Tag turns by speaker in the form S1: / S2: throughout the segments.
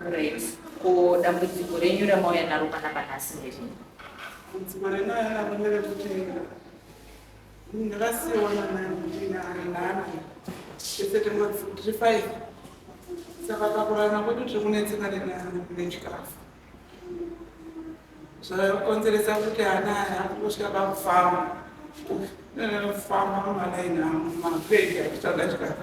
S1: Great. Ko dambudziko renyu ramauya naro panapa nhasi nderini? Dambudziko
S2: renauya naro nderekuti ndakasiiwa namai kuti naanani tese tiri five saka pakurana kwedu tiri kunetseka nechikafu zvakonzeresa kuti ana aya akutosvika pakufamba kufamba mumalaini amu mapedi achitsvaga chikafu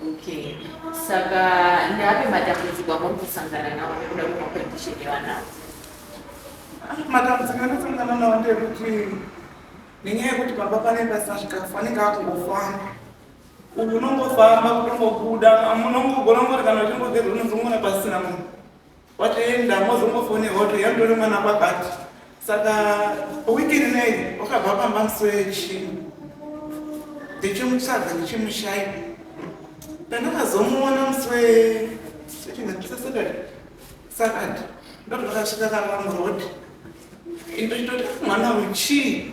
S1: Okay. Saka ndeapi matambudziko amuri kusangana nawo nekuda kwemacondition evanawo? Matambudziko
S2: anasangana nawo ndekuti nenyaya yekuti baba panenge pasina zvikafu anenge akungofamba uyu unongofamba kunongobuda unongogona ngoti kana uchingogeza unozongoona pasina munhu Watoenda mozongofonerwa kuti yandori mwana kwabati saka wiki rinei wakabva pamba musoro yechii ndichimutsvaga ndichimushaya pandakazomuona musi wesatade satade ndokutokasvika kava muroad indochitoti mwana wechii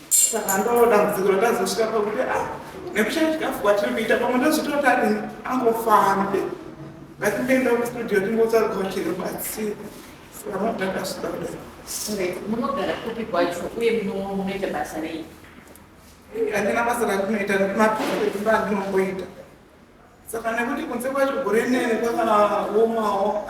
S2: saka ndoo dambudziko ratazosvika pakuti a ah, nekushaya chikafu kwatiri kuita pamwe ndozvitoti ati angofambe ngatimboenda kustudio timbotsvaga vachiribatsira saka mabdakasvika kudai munogara
S1: kupi kwacho uye munoita basa rei
S2: handina basa rakunoita mapekuba ndinomboita saka nekuti kunze kwacho gore nene kwakanaomawo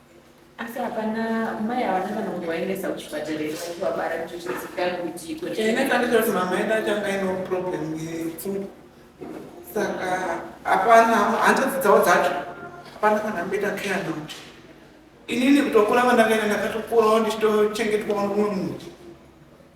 S1: Asi hapana mai havana kana kuvaendesa kuchipatara here vachivabara kuti zvizikanwe kuti iko Ine ndanditoti mama
S2: yedu acho anga ine problem yepfungwa saka hapana hanzvadzi dzavo dzacho hapana kana amboita care navo inini kutokura kwandakaita ndakatokurawo ndichitochengetwawo nomumwe munhu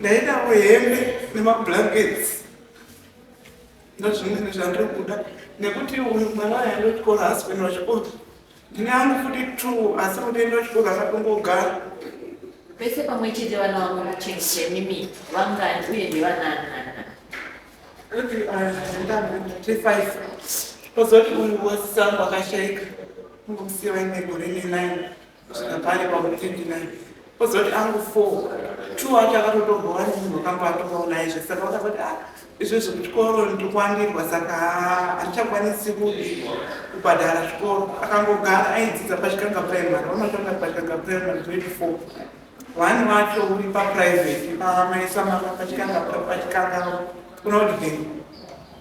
S2: ndaidawo hembe nemablankets ndozvimene zvandiri kuda nekuti uyu mwana wayo andotyora hasbend wachikuru ndine angu futi two asi kuti enda wachikuru akatongogara vese
S1: pamwe chete vana vavo vachenje mimi vangani uye ndevananana
S2: kuti ndandandatifive kozoti uyu wosisangu akashaika ungomusiya vaine gore nenine kusvika pari pauri 29 ozoti angu 4 two acho akatotorwa wani munhu wakamba atovawo naye zve saka wakaba kuti ah izvo zvekuchikoro ndikwandirwa saka handichakwanisi kubhadhara chikoro akangogara aidzidza pachikanga primary vanotanga pachikanga primary grade four wani wacho uri paprivate pamaisa mama pachikanga pachikanga unodii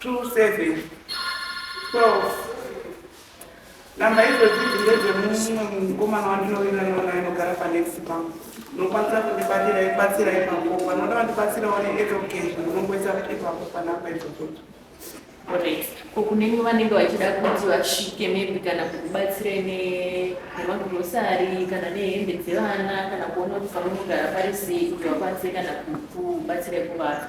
S2: 27 12 namba idzodzi dzindedzemumwe mukomana wandinovinga nona inogara panext bank unokwanisa kundibatira ibatsira ipapo vanoda vandibatsira one education unongoisa ipapo panamba idzodzodzo
S1: ko kune imwe vanenge vachida kuti vasvike maybe kana kukubatsirai nemagrosari kana nehembe dzevana kana kuona kuti pamunogara pari sei kuti vakwanise kana kukubatsirai kuvaka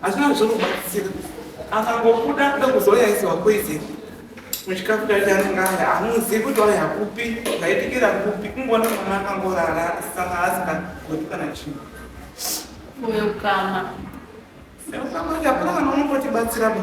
S2: Hazvina zvinobatsira. Akangobuda ndokuzoya isiwa poison. Muchikafu chacho anenge aya hamuzivi kuti waya kupi zvaitikira kupi kungoona mwana akangorara saka asingagoti kana chinhu.
S1: Uyo kama. Seukamati
S2: hapana kana unokotibatsira ba.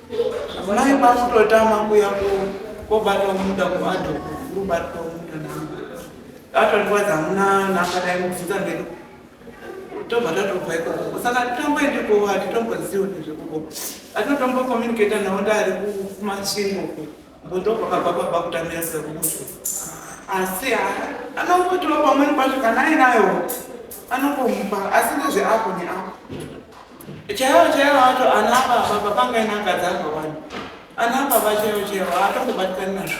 S2: Mai makutotama kuya kobatwa muda kuadho kubatwa muda namba atondiwadza hamuna namba dai mubvunza mberi tobva tatobva ikoko saka titomboendiko hatitomboziwo nezvekuko atinotombokomunicata nawo ndaari kumasvingo Uko ndokwakabva kwabva kutamira sekuti asi anongotiwa pamweni pacho kana ainayo anongomupa asi ndezveapo neapo chaiwo chaiwo acho ana baba papangaina akadzi akawanda ana baba chaiwo chaiwo atongobatikani nazvo